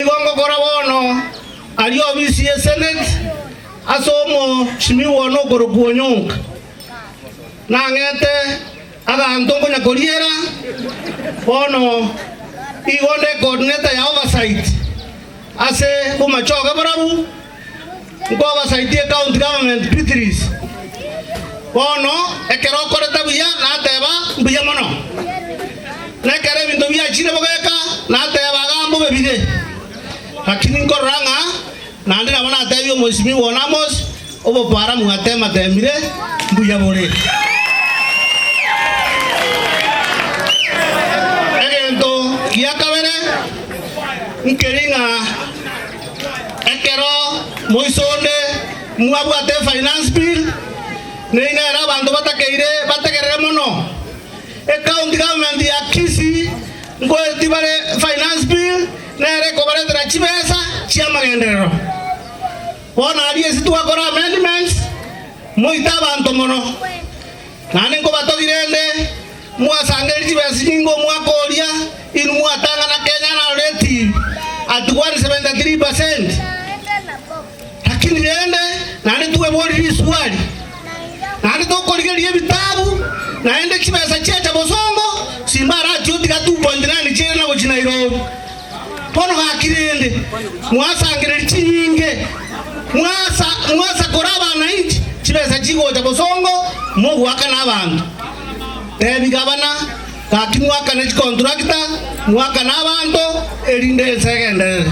Nigo ngokora bono, aria obisi ye seneti, ase omochimi one okorokwa Onyonka. Nang'ete aganto nkonya koriera, bono igo nde coordinator ya oversight ase bomachoge borabu. Nkwabasaitie County Government Beatrice, bono ekero okorete buya nateba mbuya mono, na ekero ebinto biachire bogeka nateba iga mbobe bire, lakini nkorora ng'a naende nabo natebie Omwesimigwa one Amos obokwaramu atematemire mbuya bore. Egento gia kabere nkeri ng'a. Ekero moiso onde mwabwate finance bill, nigo nere abanto batakeire bategerere mono. Ecounty government ya Kisii nkoereti bare finance bill nere ekobaretera chibesa chiamagenderero. Bono aria ase twakora amendments moite abanto mono. Naende nkobatogire ende, mwasangerie chibesa chinyinge omwaka oria, inwe mwatang'ana kenya na rate at 173%. Lakini rende naende tweborire risuali, naende tokorigereria ebitabu, naende chibesa chiacha bosongo, simbarati gotiga 2.9 chi'eira na gochia Nairobi. Bono gaki rende, mwasangererie chinyinge, mwasa mwasakore abanainchi chibesa chigocha bosongo, mogoakana abanto. Tebi gabana, gaki mwakane chikonturakita, mwakane abanto, erinde ense egenderere.